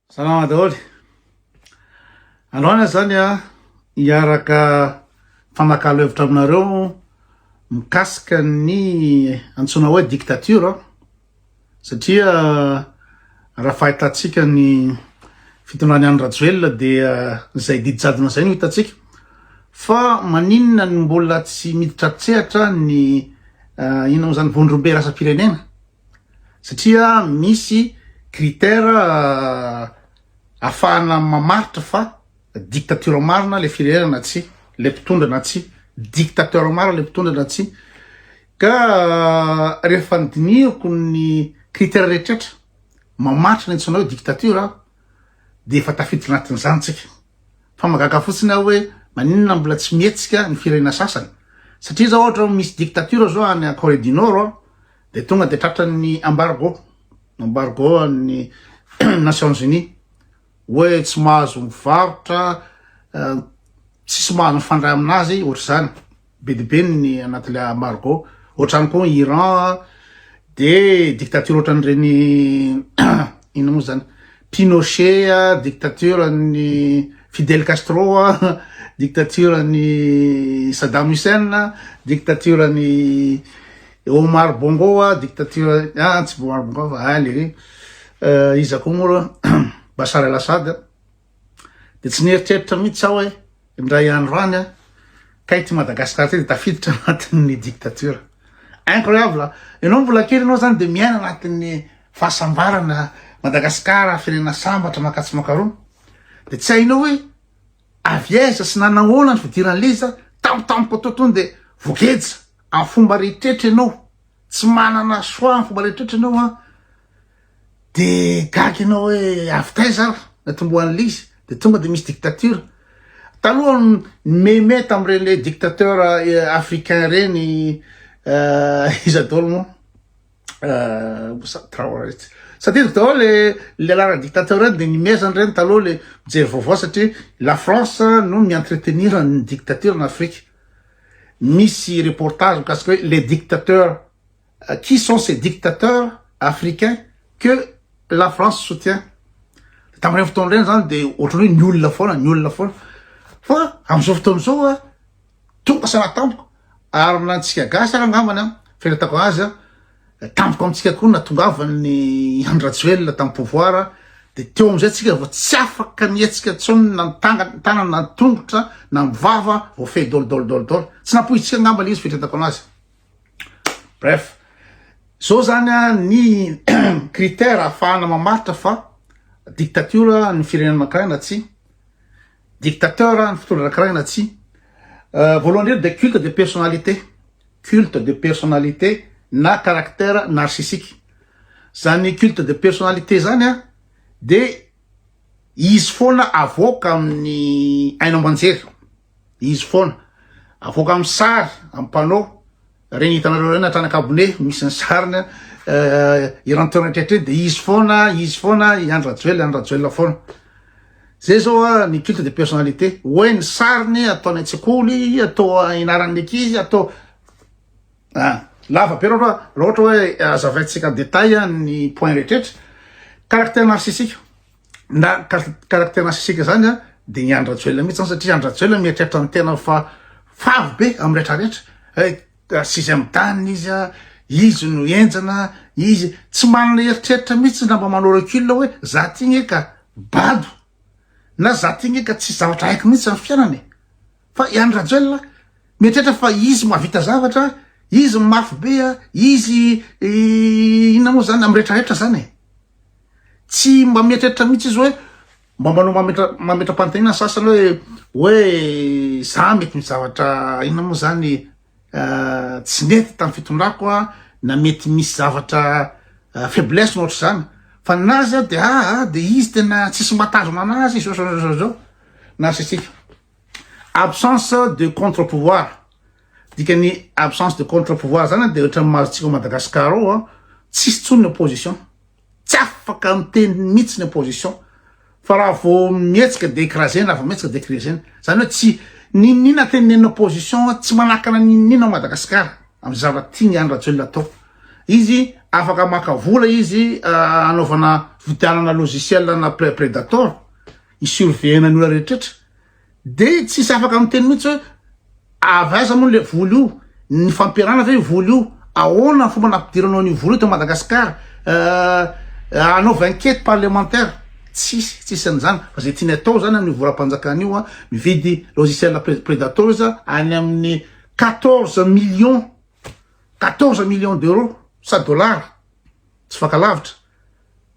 Salama daholo. Androany zany a hiaraka fanakalo hevitra aminareo mikasika ny antsoina hoe dictature satria raha fahitantsika ny fitondrany any Rajoelina dia izay didy jadona izay no hitantsika fa maninona ny mbola tsy miditra an-tsehatra ny uh, inona moa izany vondrombe rasa-pirenena satria misy critère afahana mamaritra fa dictature marina le firenena na tsy le mpitondra na tsy dictateur marina le mpitondra na tsy ka rehefa ny dinihiko ny critère rehetrretra mamaritra ny antsoina hoe dictature a de efa tafiditra anatin'izany tsika fa magaga fotsiny aho hoe maninona mbola tsy mihetsika ny firenena sasany satria zao ohatra misy dictature zao any Corée du Nord Dia tonga dia tratran'ny embargo, embargo an'ny Nations Unies, hoe tsy mahazo mivarotra, tsisy mahazo mifandray amin'azy, ohatr'izany, be dia be ny anatin'ilay embargo, ohatr'izany koa ny Iran, dia dictature ohatran'ireny inona moa izany, Pinochet, dictature an'ny Fidel Castro, dictature an'ny Saddam Hussein, dictature an'ny. Eo Omar Bongo a dictature ah tsy Omar Bongo fa ah le iza koa moa Bashar al Assad de tsy nieritreritra mihitsy aho hoe indray andro any a kay ty Madagascar ty de tafiditra anatin'ny dictature incroyable ianao mbola kely ianao zany de miaina anatin'ny fahasambarana Madagascar firenena sambatra makatso makaroa de tsy hainao hoe avy aiza sy nanahoana ny fidiran'ilay izy tampotampoka totoiny de voageja Amin'ny fomba rehetrretra ianao, tsy manana choix amin'ny fomba rehetrretra ianao an, de gaga ianao hoe avy taiza ary ny atombohan'ilay izy, de tonga de misy dictature. Taloha ny meme tamin'ireny dictateur africain ireny iza daholo moa Traoré tsy tadidiko daholo le le anarana dictateur reny de nimezana ireny taloha le mijery vaovao satria la France no mi-entretenir ny dictature en Afrique. Misy reportage mikasika hoe les dictateurs qui sont ces dictateurs africains que la France soutient de tamin'ireny fotoana ireny zany de ohatran'ny hoe ny olona foana ny olona foana fa amin'izao fotoana izao a tonga sanatamiko ary na antsika gasy ary angambany a fahitako azy a Tampoka amintsika koa natongavan'ny Andry Rajoelina tamin'ny pouvoir dia teo amin'izay tsika vao tsy afaka nihetsika intsony na ny tanana na ny tongotra na ny vava vao fehy dol dol dol dol tsy nampohintsika angamba ilay izy fitretako anazy bref zao zany a ny critère afahana mamaritra fa dictature ny firenena anankiray na tsy Dictateur ny fitondra anankiray na tsia. Voalohany indrindra dia culte de personnalité. Culte de personnalité na caractère narcissique. Zany culte de personnalité zany a dia izy foana avoaka amin'ny haino aman-jery. Izy foana avoaka amin'ny sary, amin'ny panneau. Reny hitanareo reny hatrany ankabone misy ny sariny eran'ny toerana rehetra dia izy foana izy foana i Andry Rajoelina Andry Rajoelina foana zay zao a ny culte de personnalité hoe ny sariny atao any an-tsekoly atao inaran'ny ankizy atao a ah, lava be raha ohatra hoe azavaintsika détail ny point rehetra caractère narcissique na caractère narcissique zany a de ny Andry Rajoelina mihitsy zany satria Andry Rajoelina mieritreritra ny tenany fa favy be amin'ny rehetra rehetra eh, sixième dan izy a izy no enjana izy tsy manana eritreritra mihitsy na mba manao recul hoe za ty gne ka bado na za ty gne ka tsy zavatra haiko mihitsy amin'ny fiainana e fa i Andry Rajoelina mieritreritra fa izy mahavita zavatra izy mafy be a izy inona moa zany amin'ny rehetra rehetra zany e Tsy mba mieritreritra mihitsy izy hoe mba manao mametra mametram-panontaniana ny sasany hoe hoe za mety misy zavatra inona moa zany euh, tsy nety tamin'ny fitondrako a na mety misy zavatra euh, faiblesse no ohatr'izany fa na azy a de aa ah, ah, de izy tena tsisy mba tanjona anazy zao zao zao zao narcissif Absence de contre pouvoir, dikany absence de contre pouvoir zany de ohatran'ny mahazo tsika ao Madagascar ao a, tsisy tsony ny opposition, tsy afaka miteny mitsy ny opposition, fa raha vao mihetsika de écrasena, raha vao mihetsika de écrasena, zany hoe tsy n'inon'inona tenenin'ny opposition tsy manakana n'inon'inona ao Madagascar am zava tiany Andry Rajoelina atao, izy afaka maka vola izy anaovana vidianana logiciel ana predator, I surveillant ny olona rehetrretra de tsisy afaka miteny mihitsy hoe avy aiza moa le vola io? Nifampiarahana ve io vola io? Ahoana ny fomba nampidiranao an'io vola io tao Madagascar? Hanaova enquete parlementaire? Tsisy, tsisy an'izany fa zay tiany atao zany amin'io volam-panjakana io a, mividy logiciel predators any amin'ny quatorze millions, quatorze millions d'euros sa dollars, tsy faka lavitra,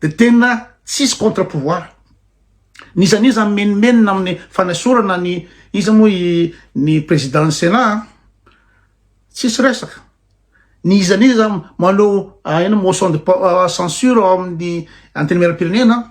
de tena tsisy contre pouvoir n'iza n'iza mimenomenona amin'ny fanesorana ny iza moa i ny président ny sénat a tsisy resaka ny iza n'iza manao ino motion de censure ao amin'ny antenimieram-pirenena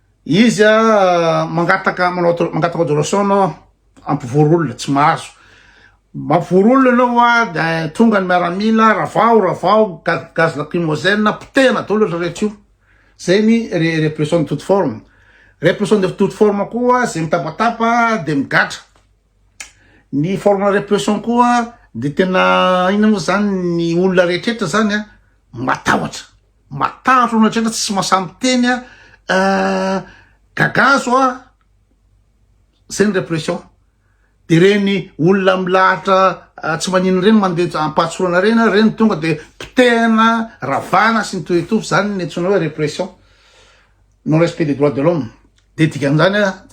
Izy a mangataka manao mangataka adoration anao ampivory olona tsy mahazo mampivory olona anao a da tonga ny miaramila ravao ravao gaz lacrymogène potehina daholo ry rehetra io zay ny répression de toute forme répression de toute forme koa zay mitabataba de migatra Ny forme de repression koa dia tena inona moa izany ny olona rehetrrehetra izany a, matahotra, matahotra olona rehetrrehetra tsy mahasahy miteny a, gagazo a, zay ny repression. Dia ireny olona milahatra tsy manino ireny mandeha am-pahatsorana ireny a, ireny tonga dia potehina, ravana sy ny toy ny toy, izany no antsoina hoe repression. non respect des droits de l'homme de dikan'izany a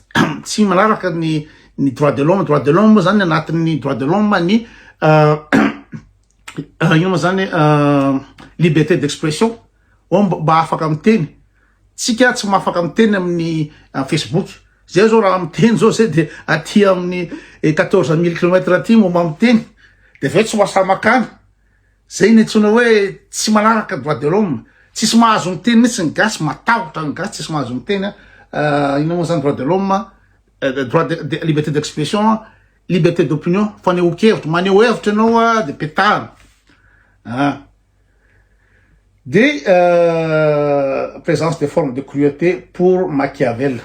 tsy manaraka ny ny droit de l'homme droit de l'homme moa zany anatin'ny droit de l'homme ny ino moa zany liberté d'expression oh mba afaka miteny tsika tsy mahafaka miteny amin'ny facebook zay zao raha miteny zao zay de aty amin'ny quatorze mille kilomètres aty momba miteny de avy eo tsy mahasamakany Zay no antsoina hoe tsy manaraka droit de l'homme, tsisy mahazo miteny mitsy ny gasy, matahotra ny gasy tsisy mahazo miteny an, ah, inona moa zany droit de l'homme, eh, droit de, de, liberté d'expression, liberté d'opinion, fanehoan-kevitra, maneho hevitra ianao a, de petahana, ah. De, eh, présence de forme de cruauté pour Machiavel,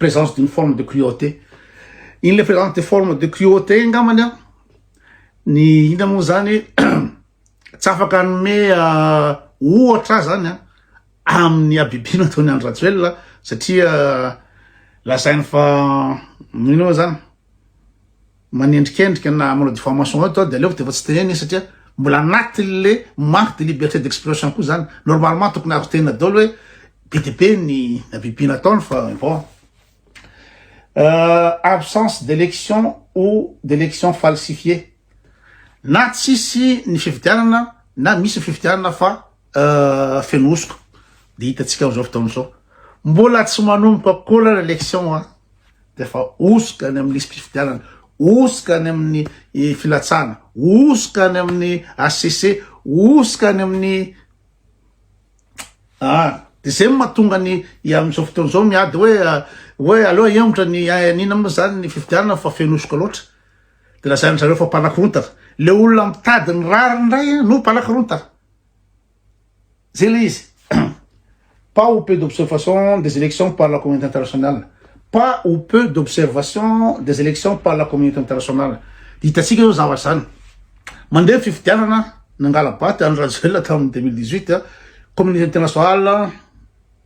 présence d'une forme de cruauté, iny le présence de forme de cruauté iny ngambany an, Ny inona moa zany tsy afaka hanome ohatra ahy zany amin'ny habibiana ataon'i Andry Rajoelina satria lazainy fa inona moa zany manendrikendrika na manao diffamation eto dia aleoko dia efa tsy tenenina satria mbola anatin'le manque de liberté d'expression koa zany normalement tokony azo tenina daholo hoe be dia be ny habibiana ataony fa bon euh, absence d'élection ou d'élection falsifiée na tsisy ny fifidianana na misy fifidianana fa euh, fenohosoka de hitantsika am'izao fotaona izao mbola tsy manomboka kola ny élection a de fa hosoka any amin'ny lisy mpifidianana hosoka any amin'ny eh, filatsana hosoka any amin'ny HCC hosoka any amin'ny Ah, de zay matonga ny amin'izao fotoana izao miady hoe hoe aleo ahemotra ny anina moa zany ny fifidianana fa fenosoka loatra. De lazain'ny zareo fa mpanakorontana. Le olona mitady ny rariny indray no mpanakorontana. Zay le izy. pas ou peu d'observation des élections par la communauté internationale. Pas ou peu d'observation des élections par la communauté internationale. Hitantsika eo zavatra zany. Mandeha ny fifidianana, nangala-bato Andry Rajoelina tamin'ny 2018, communauté internationale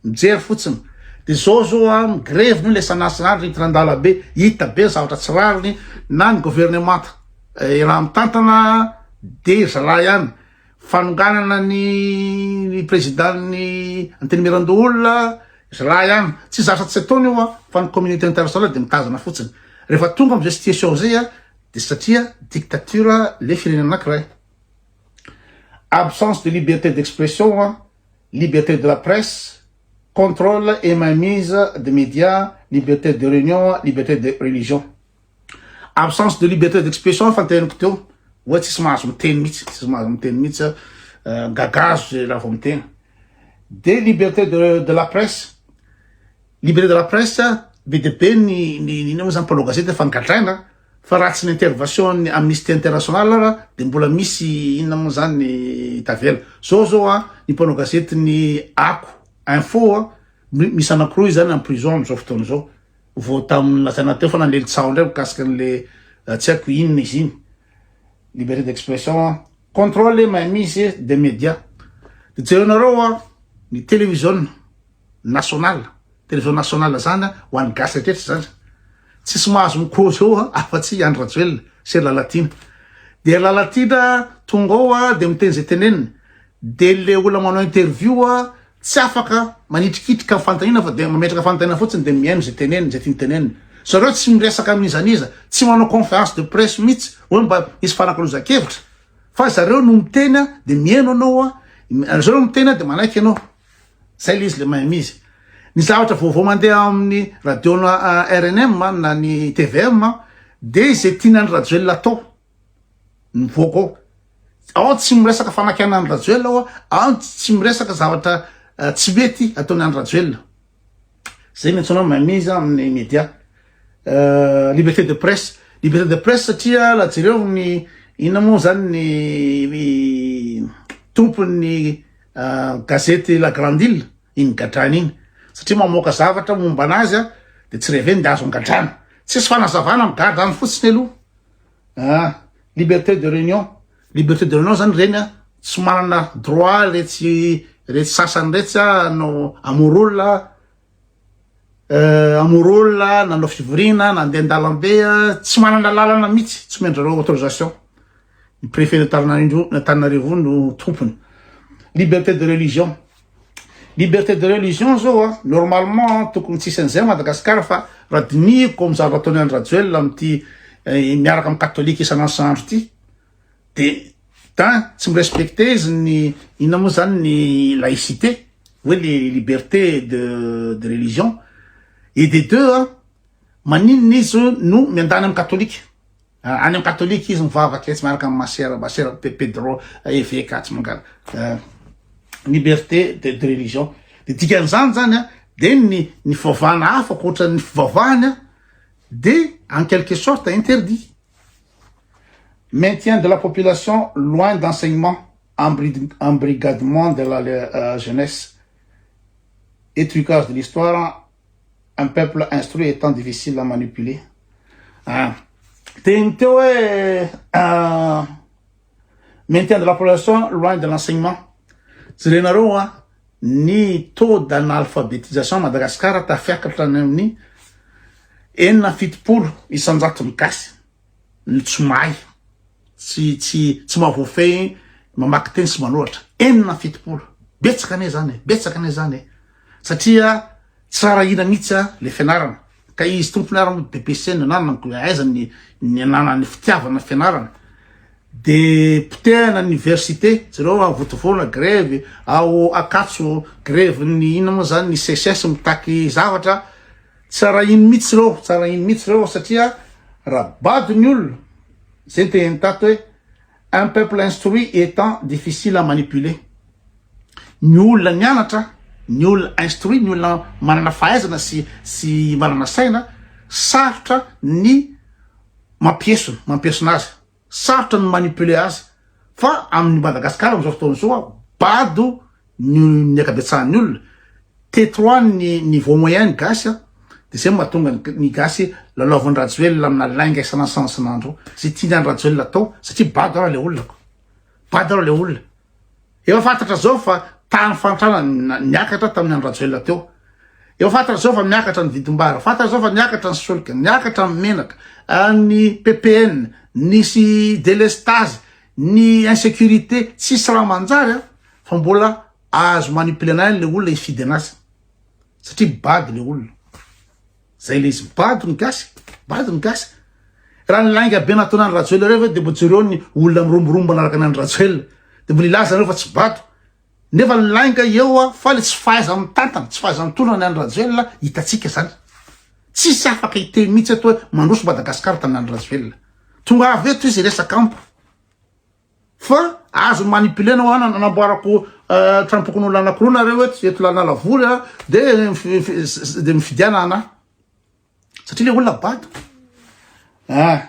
mijery fotsiny. Dia zao zao a, migrevy moa ilay sanasana andry Tirandalabe, hita be ny zavatra tsy rariny, na ny governemanta eh, raha mitantana dia zalahy ihany. Fanonganana ny président-n'ny antenimierandoholona, zalahy ihany. Tsy zatra tsy ataony io a, fa ny communauté internationale dia mitazana fotsiny. Rehefa tonga amin'izay situation izay a, Dia satria dictature le firenena anakiray. Absence de liberté d'expression, liberté de la presse, contrôle et main mise de media, liberté de réunion, liberté de religion. Absence de liberté d'expression efa niteniko teo hoe tsisy mahazo miteny mihitsy, tsisy mahazo miteny mihitsy gagazo zay raha vao miteny. Dia liberté de, de la presse, Libéré de la presse, be dia be ny ny inona moa zany mpanao gazety efa nigadraina fa raha tsy ny intervention ny Amnistie International ara dia mbola misy inona moa zany ny tavela. Zao zao an ny mpanao gazety ny Ako info an misy anankiroa izy zany en prison amin'izao fotoana izao vao tamin'ny lazaina teo foana an'ilay tsaho indray mikasika an'ilay tsy haiko inona izy iny. Libéré d'expression an. Contrôle et mainmise des médias. Dia jerenareo an ny télévision. national television national zany a ho an'ny gasy rehetra zany tsisy mahazo ny cause eo a afa tsy andry rajoelina sy lalatiana dia lalatiana tonga ao a dia miteny zay teneniny dia le olona manao interview a tsy afaka manitrikitrika ny fanontaniana fa dia mametraka fanontaniana fotsiny dia mihaino zay teneniny zay tiany tenenina zareo tsy miresaka amin'iza n'iza tsy manao conférence de presse mihitsy hoe mba hisy fanakalozan-kevitra fa zareo no miteny a dia mihaino anao a zareo no miteny a dia manaiky ianao Zay le izy le mahay mizy. Ny zavatra vaovao mandeha amin'ny radio na rnm na ny tvm de izay tiana ny Rajoelina atao mivoaka ao. Ao tsy miresaka fanakiana ny Rajoelina ao, ao tsy miresaka zavatra tsy mety ataon'ny Andry Rajoelina. Zay no antsoina mameza amin'ny media. Euh, liberté de presse liberté de presse satria la jereo ny inona moa zany ny tompon'ny euh, gazety la grande île iny gadrana iny satria mamoaka zavatra momba anazy a de tsy reveny de azo angadrana tsisy fanazavana migadra any fotsiny aloha Ah! Liberté de réunion, liberté de réunion zany reny a, tsy manana droit retsy retsy sasany retsy a hanao hamory olona a, euh hamory olona, nanao fivoriana, nandeha an-dalambe a, tsy manana lalana mihitsy, tsy omen'dry zareo autorisation, ny préfet-n'Antananarivo no tompony, liberté de religion. Liberté de religion zao a, normalement tokony tsisy an'izay à Madagascar fa raha dinihiko amin'ny zavatra ataon'i Andry Rajoelina amin'ity eh, miaraka amin'ny katolika isan'andro isan'andro ity de tin tsy mirespecte izy ny inona moa zany ny laïcité hoe le liberté de de religion et des deux a maninona izy no miandany amin'ny katolika Any amin'ny katolika izy mivavaka etsy miaraka amin'ny masera, masera Pe- Pedro, eveka atsy mangala. Eh, liberté de, de religion. Dia dikan'izany zany a, dia ny, ny fivavahana hafa ankoatran'ny fivavahany a, dia en quelque sorte interdit. Maintien de la population loin d'enseignement, embrid- embrigadement de la le- euh, jeunesse, étruquage de l'histoire, un peuple instruit étant difficile à manipuler ah teny teo hoe ah, maintien de la population loin de l'enseignement jerenareo a ny taux d'analphabétisation Madagascar tafiakatra any amin'ny enina fitopolo isanjaton'ny gasy ny tsy mahay, tsy tsy tsy mahavoafehy mamaky teny sy manoratra, enina amby fitopolo, betsaka anie zany e, betsaka anie zany e, satria tsy rarahina mihitsy a le fianarana, ka izy tompony ary moa DPC no ananany ko aiza ny ny ananany fitiavana ny fianarana, de potehana ny université, jereo a Vontovorona grevy, ao Ankatso grevy ny inona moa zany ny CSS mitaky zavatra, Tsy arahiny mitsy reo, tsy arahiny mitsy reo satria ra bado ny olona, zay ny tehiny tato hoe un peuple instruit etant difficile à manipuler. Ny olona nianatra, ny olona instruit, ny olona manana fahaizana sy sy manana saina, sarotra ny mampiesona, mampiesona azy. Sarotra ny manipuler azy fa amin'ny Madagascar amin'izao fotoana izao bado ny akabetsahan'ny olona, te trop ny niveau moyen ny gasy an, de zay mahatonga ny gasy lalaovin'i Rajoelina amina lainga isan'andro zay tian'i Rajoelina atao satria bado ara le olona ko, bado ara le olona. Efa fantatra zao fa tany fantrana niakatra tamin'ny andro rajoelina teo. Efa fantatra zao fa miakatra ny vidim-bary, fantatra zao fa niakatra ny solika, niakatra ny menaka, ah, ny PPN, nisy délestage, ny insécurité, tsisy raha manjary an, ah, fa mbola azo manipuler-na ihany le olona hifidy an'azy. Satria bado le olona. Zay le izy bado ny gasy, bado ny gasy. Raha ny lainga be nataona an'i Rajoelina ireo ve de mbo jereo ny olona miromborombo manaraka an'i Rajoelina. De mbo lilaza anareo fa tsy bado. Nefa ny lainga eo a, fa le tsy fahaiza mitantana, tsy fahaiza mitondra ny an'i Rajoelina hitantsika zany. Tsisy afaka hiteny mihitsy eto hoe mandroso Madagascar tamin'ny an'i Rajoelina. Tonga avy eto izy hiresaka amiko. Fa azo manipuler nao an anamboarako euh, trampokon'olona anankiroa nareo eto eto lanala vory a de de mifidiana anah satria le olona bado ah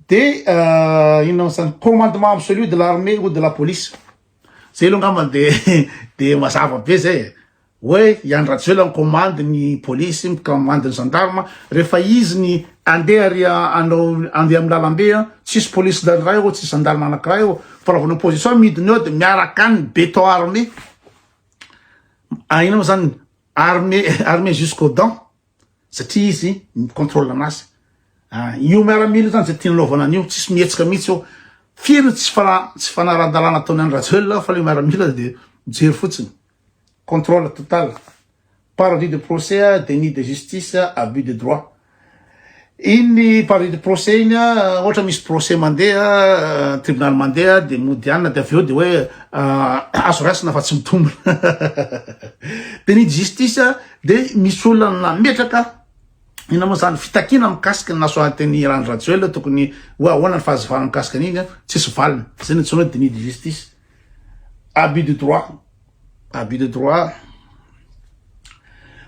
de euh, inona moa zany commandement absolu de l'armée ou de la police zay aloha angamba de de mazava be zay e Hoe i Andry Rajoelina mikomandy ny polisy, mikomandy ny zandarma, rehefa izy ny andeha ary anao andeha amin'ny lalambe an, tsisy polisy iray ô, tsisy zandarma anankiray ô, fa raha vao ny opposition midina eo dia miaraka any ny béton armé, inona moa zany, armé armé jusqu'aux dents, satria izy mi contrôle anazy, io miaramila zany zay tiany anaovana an'io, tsisy mihetsika mihitsy eo, firy ny tsy tsy fanarahan-dalàna ataon'i Andry Rajoelina fa le miaramila dia mijery fotsiny. Contrôle total, parodies de procès a, déni de justice a, abus de droit. Iny parodies de procès iny a, ohatra misy procès mandeha, tribunal mandeha dia mody anona dia avy eo dia hoe azo raisina fa tsy mitombina. Déni de justice a, dia misy olona nametraka, inona moa izany, fitakiana mikasika ny nasoahan-teny i Randry Rajoelina tokony ho ahoana ny fahazavana mikasika an'iny a, tsisy valiny. Izay no antsoina hoe déni de justice. Abus de droit, abus de droit,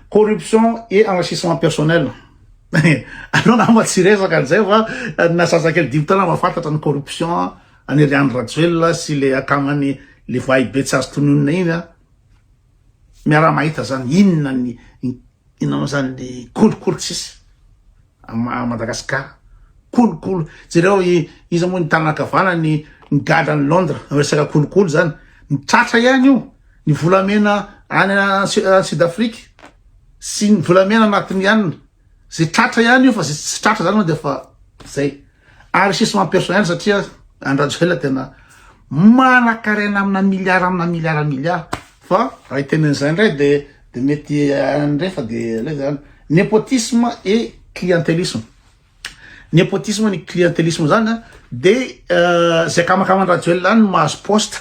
corruption et enrichissement personnel. Anao nama tsy resaka an'izay fa na zazakely dimy taona mahafantatra ny corruption any ry Andry Rajoelina sy le akamany le vahibe tsy azo tononina iny miara-mahita zany inona ny Inona moa zany ny kolikoly tsisy à Madagascar kolikoly jereo iza moa ny tanana kavana ny ny gadra ny Londres resaka kolikoly zany ny tratra ihany io ny volamena any Sud Afrique sy ny volamena anatiny ihany ze tratra ihany io fa ze tsy tratra zany moa de fa zay Ary sisement personnel satria Andry Rajoelina tena manakarena amina milliard amina milliard milliard fa raha hiteny an'izay indray de de mety indray fa de le zany nepotisme et clientelisme nepotisme ny clientelisme zany de euh, zay kamakaman-dRajoelina any mahazo poste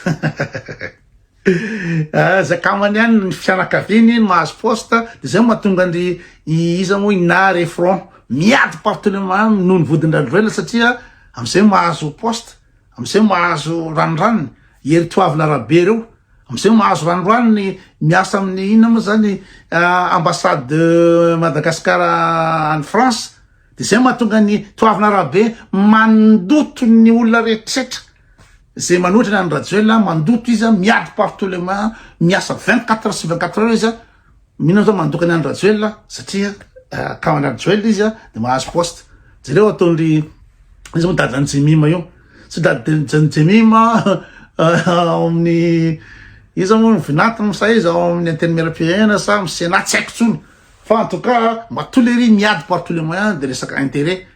Ah, zay kamany any ny fianakaviany no mahazo poste de zay mahatonga andry iza moa ina refron miady partout le mamy noho ny vodin-dradroela satria amizay mahazo poste amizay mahazo ranoranony ery toavina rabe reo amizay mahazo ranoranony miasa amin'ny ina moa zany ah, ambassade de Madagascar any France Dia izay no mahatonga ny toavina arabe mandoto ny olona rehetrretra izay manohitra ny an'i Rajoelina, mandoto izy an, miady partout le main, miasa 24 heures sur 24 heures izy an, mino aho zao mandoka ny an'i Rajoelina satria akaman'i Rajoelina izy an, dia mahazo poste. Jereo ataon'ry izy moa dadan'i Jemima io, tsy dadan'i Jemima ao amin'ny iza moa ny vinantiny sa izy ao amin'ny antenimieram-pirenena sa amin'ny Sénat tsy haiko intsony. Fa en tout cas mba tous les riz miady par tous les moyens de resaka intérêt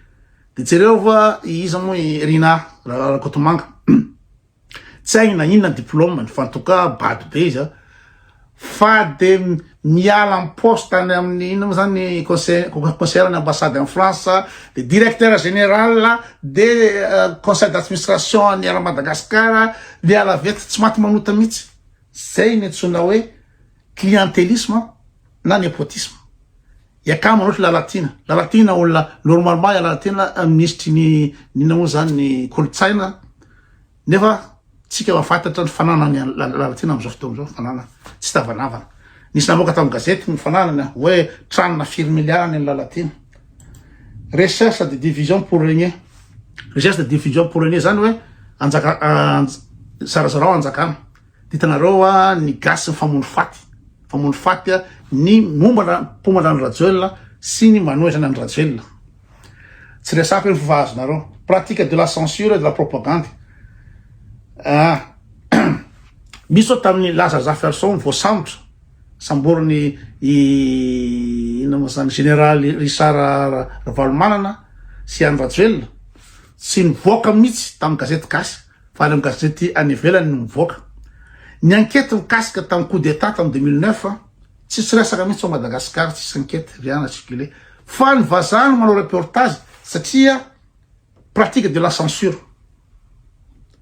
de jereo fa i iza moa i Rinah Rakotomanga tsy hainy na inona ny diplômany fa en tout cas bado be izy a fa de miala ny poste any amin'ny inona moa zany conseil conseiller ny ambassade en France de directeur général de conseil d'administration any Air Madagascar miala vety tsy maty manota mihitsy zay ny antsoina hoe clientelisme na nepotisme. Iakama loatra ilay Lalatiana. Lalatiana olona normalement ilay Lalatiana eh, minisitry ny nina moa zany ny kolontsaina nefa tsika mafantatra ny fananany Lalatiana amin'izao fotoana izao fanana tsy tavanavana. Nisy namoaka tamin'ny gazety ny fananany ah, hoe tranona firy miliara ny Lalatiana. Recherche de division pour régner. Recherche de division pour régner zany hoe anjaka zarazarao anjakana. Hitanareo wa ny gasy mifamono faty mifamono faty ny mombana mpomana an'i Rajoelina sy ny manohitra an'i Rajoelina. Tsy resako eny fa fa azonareo. Pratique de la censure et de la propagande. Ah. Misy zao tamin'ny Laza Zaferson voasambotra samboriny i inona moa zany généraly Richard Ravalomanana sy an'i Rajoelina. Tsy nivoaka mihitsy tamin'ny gazety gasy. Fa ireo gazety any ivelany no mivoaka. Ny ankety mikasika tamin'ny coup d'Etat tamin'ny 2009, tsisy resaka mihitsy ao Madagascar, tsisy ankety rien n'a circulé. Fa ny vazaha no manao reportage satria pratique de la censure.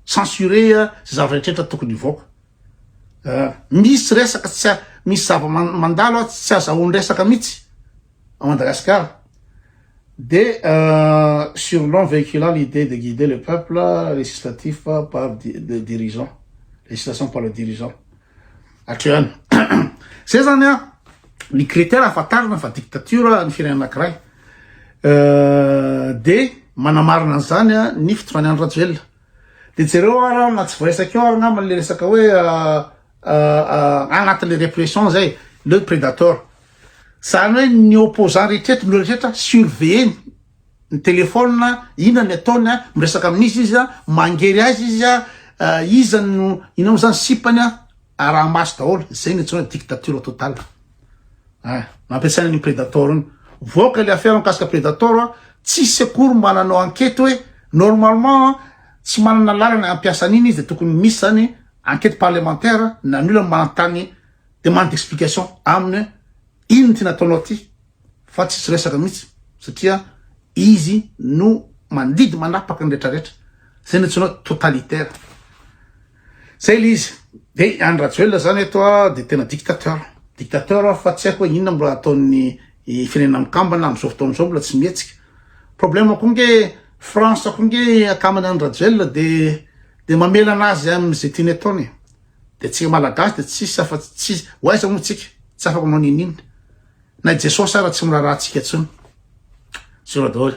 Censurer izay zava-drehetra tokony hivoaka. Misy resaka tsy misy zava-mandalo tsy azahoany resaka mihitsy. à Madagascar de sur long véhiculant l'idée de guider le peuple législatif par le dirigeant législation par le dirigeant hatreo ihany zay zany a ny critère ahafantarana fa dictature ny firenena anankiray de manamarina an'izany a ny fitondrany Andry Rajoelina de jereo ara na tsy voaisakeo ary angamba le resaka hoe anatin'ilay repression zay le predator zany hoe ny opposant rehetra eto ny rehetra surveiller ny téléphone ina ny ataony a miresaka amin'izy izy a mangery azy izy a euh, iza no ina moa zany sipany a arahamaso daholo zay ny atsoina dictature total a mampiasaina ny predator iny voaka le affaire mikasika predator a tsy secours mba nanao ankety hoe normalement tsy manana lalana ampiasan'iny izy de tokony misy zany Enquête parlementaire na ny olona manontany demande d'explication aminy hoe inona ity nataonao ity fa tsisy resaka mihitsy satria izy no mandidy manapaka ny retraretra zay no antsoina hoe totalitaire zay le izy de any rajoelina zany eto de tena dictateur dictateur fa tsy haiko hoe inona mbola ataon'ny firenena mikambana am'izao fotoana zao mbola tsy mihetsika problème ko nge France ko nge akamana any rajoelina de Dia mamela anazy amin ze tiany ataony e. Dia tsika malagasy dia tsisy afa tsy ho aiza moa tsika, tsy afaka manao ninin. Na i Jesosy ara tsy miraharaha tsika tsony. Zero daholo.